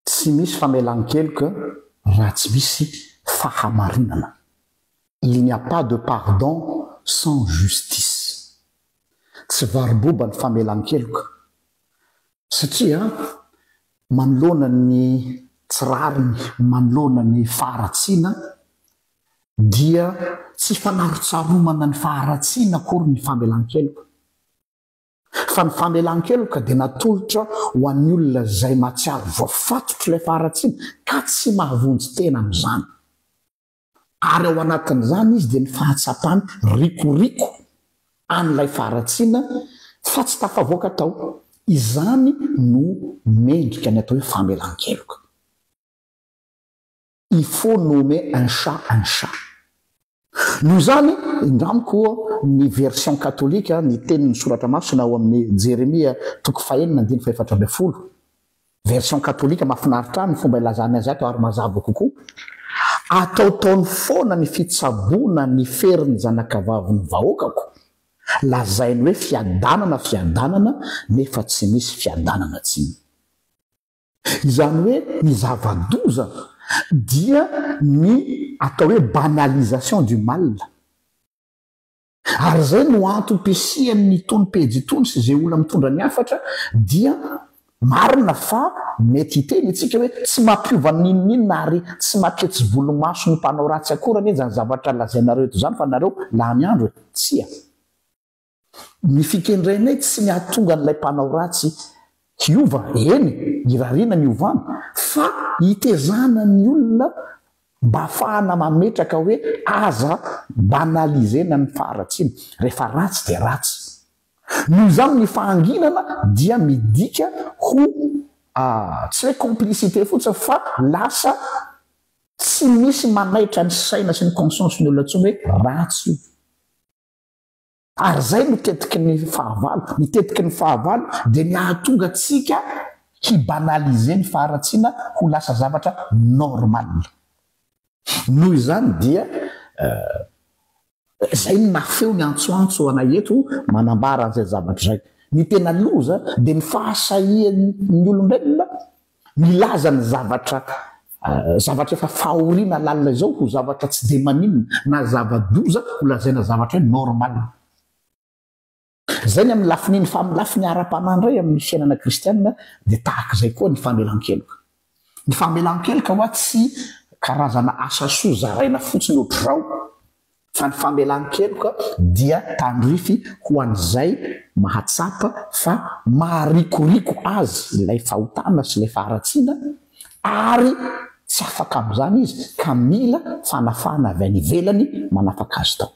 Tsy misy famelan-keloka raha tsy misy fahamarinana. Il n'y a pas de pardon sans justice. Tsy varoboba ny famelan-keloka satria manoloana ny tsy rariny, manoloana ny faharatsiana dia tsy fanarotsaromana ny faharatsiana akory ny famelan-keloka. Fa ny famelan-keloka dia natolotra ho an'ny olona izay mahatsiaro voafatotr'ilay faharatsiana ka tsy mahavonjy tena amin'izany. Ary ao anatin'izany izy dia ny fahatsapany rikoriko an'ilay faharatsiana fa tsy tafavoaka tao. Izany no mendrika ny atao hoe famelan-keloka. il faut nommer un chat un chat. Noho izany, indramiko ny version katolika, ny tenin'ny Soratra Masina ao amin'ny Jeremia toko fahenina andininy fahefatra ambin'ny folo, version katolika mahafinaritra ahy ny fomba ilazany azy ato ary mazava kokoa, Ataotaony foana ny fitsaboana ny ferin'ny zanakavavin'ny vahoakako, lazainy hoe fiadanana, fiadanana, nefa tsy misy fiadanana, tsy. Izany hoe ny zava-doza dia ny atao hoe banalisation du mal. Ary izay no antom-pisian'itony pejy itony sy izay olona mitondra ny hafatra dia marina fa mety hiteny isika hoe tsy mampiova n'inon'inona ary tsy maketsy volomaso ny mpanao ratsy akory anie izany zavatra lazainareo eto izany fa nareo lany andro e! Tsia! Ny fikendrenay tsy ny hahatonga an'ilay mpanao ratsy hiova, eny, irariana ny hiovana, fa hitezana ny olona mba hahafahana mametraka hoe aza banaliser-na ny faharatsiana. Rehefa ratsy dia ratsy. Noho izany ny fahanginana dia midika ho tsy hoe complicité fotsiny fa lasa tsy misy manaitra ny saina sy ny conscience-ny olona intsony hoe ratsy io. Ary izay no tetiky ny fahavalo. Ny tetiky ny fahavalo dia ny hahatonga antsika hi-banaliser ny faharatsiana ho lasa zavatra normal. Noho izany dia izay no nafeo ny antsoantso anay eto manambara an'izay zavatra izay. Ny tena loza dia ny fahasahian'ny olombelona Milaza ny zavatra zavatra efa fahoriana lalina izao ho zavatra tsy dia maninona na zava-doza ho lazaina zavatra hoe normal. Izay ny amin'ny lafin'iny fa amin'ny lafiny ara-panahy indray amin'ny fiainana kristiana dia tahaka izay koa ny famelan-keloka. Ny famelan-keloka ho'a tsy karazana asa soa zaraina fotsiny ohatr'izao fa ny famelan-keloka dia tandrify ho an'izay mahatsapa fa maharikoriko azy ilay fahotana sy ilay faharatsiana ary tsy afaka amin'izany izy ka mila fanafahana avy any ivelany manafaka azy tao.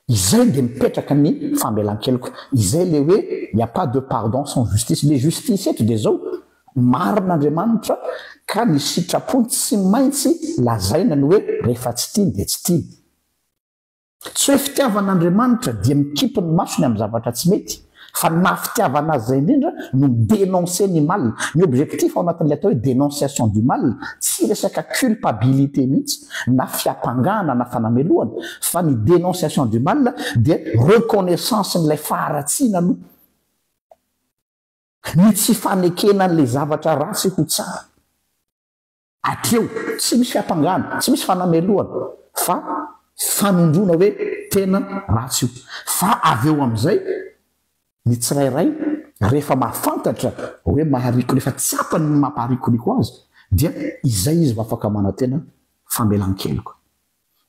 Izay dia mipetraka ny famelan-keloka, izay ilay hoe il n'y a pas de pardon sans justice, ilay justice eto dia izao, Marina Andriamanitra ka ny sitrapony tsy maintsy lazaina ny hoe rehefa tsy tiany dia tsy tiany. Tsy hoe fitiavana Andriamanitra dia mikipy ny masony amin'ny zavatra tsy mety fa ny maha fitiavana azy izay indrindra no mi denoncer ny mal. Ny objectif ao anatin'ilay atao hoe denonciation du mal tsy resaka culpabilité mihitsy na fiampangana na fanamelohana fa ny denonciation du mal dia reconnaissance-n'ilay faharatsiana aloha. Ny tsy fanekena an'ilay zavatra ratsy ho tsara. Hatreo, tsy misy fiampangana, tsy misy fanamelohana fa fanondroana hoe tena ratsy io. Fa avy eo amin'izay, ny tsirairay rehefa mahafantatra hoe maharikoriko, rehefa tsapany ny mampaharikoriko azy, dia izay izy vao afaka manantena famelan-keloka.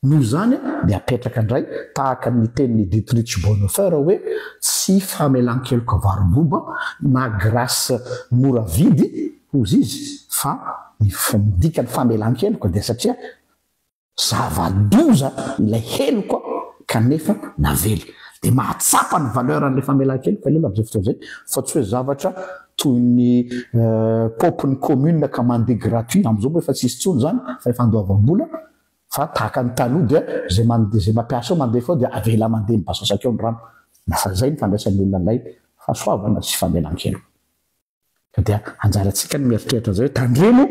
Noho izany, dia apetraka indray, tahaka ny tenin'i Dietrich Bonhoeffer hoe tsy famelan-keloka varom-boba na grâce mora vidy, hozy izy, fa ny dikan'ny famelan-keloka dia satria zava-doza ilay heloka kanefa navela. Dia mahatsapa ny valeur an'ilay famelan-keloka ny olona amin'izay fotoana izay, fa tsy hoe zavatra toy ny paopin'ny commune ka mandeha gratuit, amin'izao moa efa tsy hisy intsony izany fa efa andoavam-bola, fa tahaka ny taloha dia izay mandeha izay mampiasa ao mandefa ao dia avela mandeha mibasasaka eo ny rano na fa izay ny fandraisan'ny olona an'ilay fahasoavana sy famelan-keloka ka dia anjarantsika ny mieritreritra an'izay hoe tandremo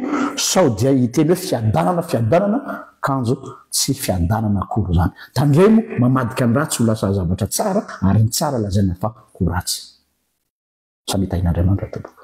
sao dia hiteny hoe fiadanana fiadanana kanjo tsy fiadanana akory izany tandremo mamadika ny ratsy ho lasa zavatra tsara ary ny tsara lazaina fa ho ratsy samia tahin'Andriamanitra tompoko.